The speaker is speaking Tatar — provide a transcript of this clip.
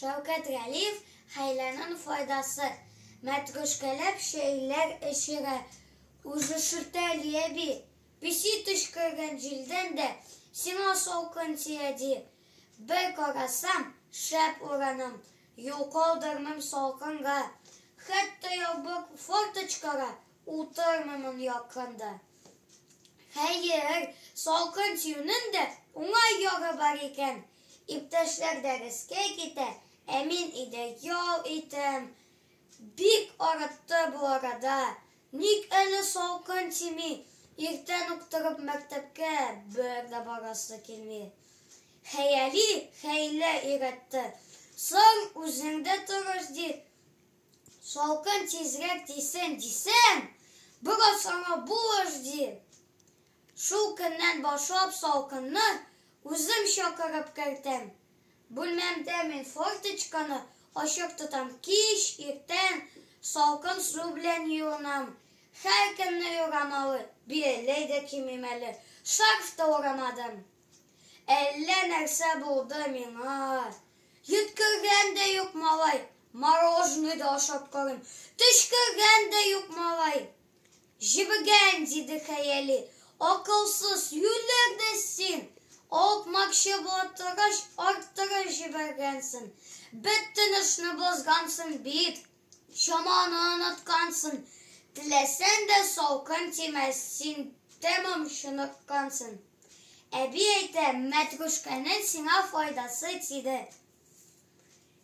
Шәүкәт Галиев хәйләнең файдасы. Мәтрүшкәләп чәйләр эчерә. Үзе шертә Лия би. Песи төчкергән җилдән дә сиңа салкын тия, ди. Бер карасам, шәп ураным, юл калдырмыйм салкынга. Хәтта ябык форточкага утырмыймын якында. Хәер, салкын тиюнең дә уңай ягы бар икән. Иптәшләр дәрескә китә, ә мин өйдә ял итәм. Бик арытты бу арада. Ник әле салкын тими? Иртән үк торып мәктәпкә бер дә барасы килми. Хәяли хәйлә өйрәтте. Соң, үзең дә тырыш, ди. Салкын тизрәк тисен дисәм, бераз аңа булыш, ди. Шул көннән башлап салкынны үзем чакырып кертәм. Бүлмәмдә мин форточканы ачык тотам, кич, иртән салкын су белән юынам. Һәркемне юрамалы, бияләй дә кимим әле, шарф та урамадым. Әллә нәрсә булды миңа. Йөткергән дә юк малай, мороженый да ашап карыйм, төчкергән дә юк малай. Җебегән, диде хәяли, акылсыз, юләр дә син! Алпмакчы була торгач, арттырып җибәргәнсен. Бет тынычны бозгансың бит. Чаманы оныткансың. Теләсәң дә салкын тимәс, син тәмам чыныккансың. Әби әйтә, мәтрүшкәнең сиңа файдасы тиде.